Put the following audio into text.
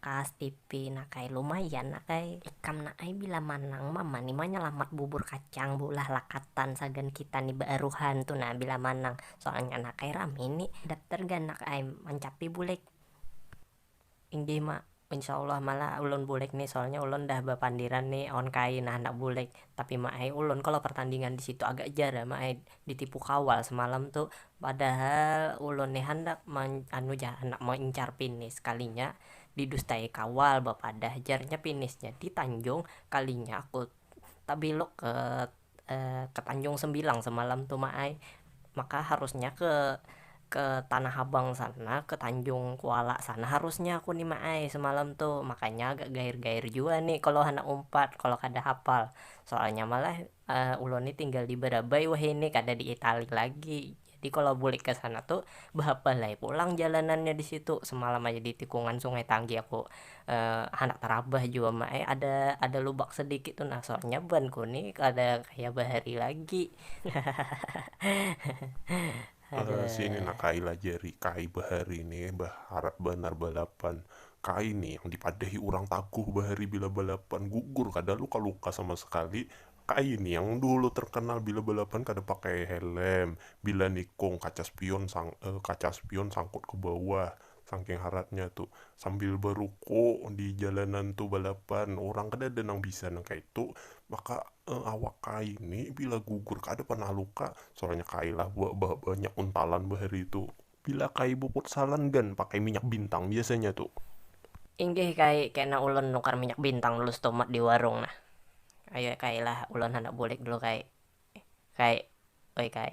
Kas pipi nak ai lumayan nak ai. Ikam nak ai bila manang mama ni manyalamat bubur kacang beulah lakatan sagan kita ni baaruhan tu nah bila manang soalnya nak ai rami ni daptar gan nak ai mancapi bulik. Inggih ma, insya allah malah ulun bulik ni soalnya ulun dah bapandiran ni awan kai nah handak bulik tapi ma ai ulun kalo pertandingan disitu agak jar ma ai Ditipu kawal semalam tu, padahal ulun ni handak anu ja handak maincar pinis sekalinya didustai kawal bapadah jarnya pinisnya di tanjung kalinya aku tabelok ke ke tanjung sembilang semalam tu mak ai, maka harusnya ke ke tanah abang sana ke tanjung kuala sana harusnya aku ni mak ai semalam tu, makanya agak gair gair jua ni kalo handak umpat kalo kada hafal soalnya malah. ulun ni tinggal di barabai wahini kada di itali lagi, jadi kalo bulik ka sana tu bahapal ai pulang jalanannya di situ, semalam aja di tikungan sungai tanggi aku handak tarabah jua ma ai ada ada lubak sedikit tu nah soalnya ban ku ni kada kaya bahari lagi. Sini nah kai lah jari, kai bahari ni baharap banar balapan, kai ni yang dipadahi urang taguh bahari bila balapan, gugur kada luka-luka sama sakali, kai ni yang dahulu terkenal bila balapan kada pakai helm, bila nikung kaca spion kaca spion sangkut ke bawah, Sangking haratnya tu, sambil baruko di jalanan tu balapan, urang kada ada nang bisa nang kaitu, maka awak kai ni bila gugur kada pernah luka, soalnya kai lah banyak untalan bahari tu. Bila kai bafutsalan gan pakai minyak bintang biasanya tu. Inggih kai, kena ulun nukar minyak bintang dulu setumat di warung nah. Ayu ai kai lah, ulun handak bulik dulu kai. Kai, oi kai.